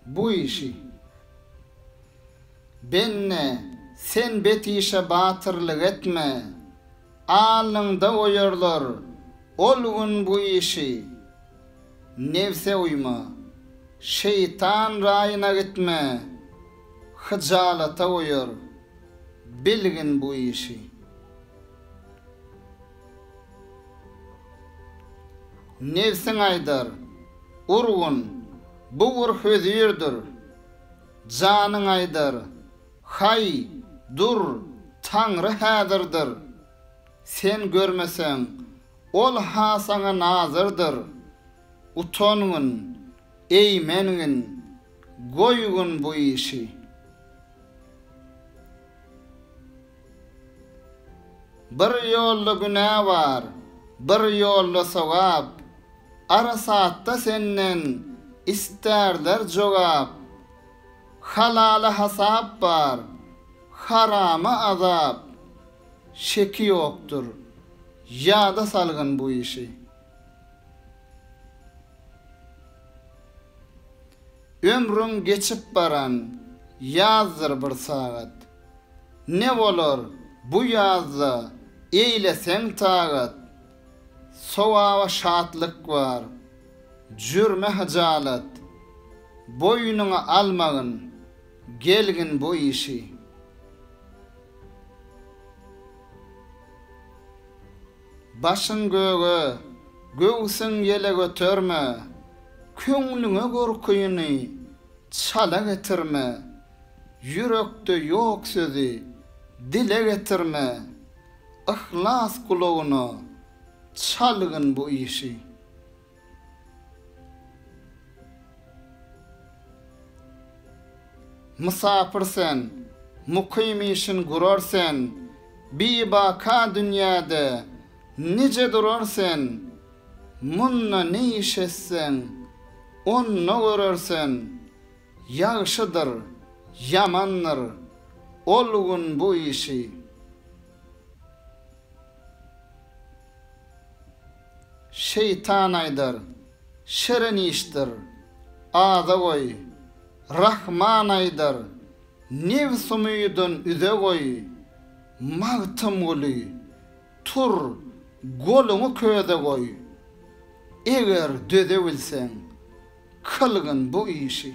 Bu işi Benne sen bet işe batyrlyk etme. Alnyňda oýarlar ol gün bu işi. Nebse uýma. Şeýtan raýyna gitme. Hyjalata oýar. Bilgin bu işi. Nebsiň aýdar, Urgun, bu gur hözirdir. Janyň aýdar, Haý, dur, Taňry häzirdir. Sen görmeseň, Ol-ha saňa nazyrdyr. Utangyn, eýmengin, goýgyn bu işi. Bir ýolda günä bar, bir ýolda sogap, Arasatda senden istärler jogap. Halala hasap bar, harama azap, Şeki ýokdur, ýada salgyn bu işi. Ömrüň geçip baran ýazdyr bir sagat. Ne bolar bu ýazda eýleseň tagat, Sogaba şatlyk bar, jürme hyjalat. Boýnuňa almagyn, gelgin bu işi. Başyň göge, göwsüň ýele göterme, Köňlüňe gorkyny çala getirme. Ýürekde ýok sözi dile getirme, Yhlas gulagyna çalgyn bu işi. Mysapyr sen, mukym işin gurar sen, Bibaka dünýäde nije durar sen, Munda ne iş etseň, onda görer sen, Ýagşydyr, ýamandyr ol gün bu işi. Şeýtan aýdar, şirin işdir, aza goý. Rahman aýdar, nebs-umydan üze goý. Magtymguly, tur, goluňy köze goý. Eger döze bilseň. Kylgyn bu işi.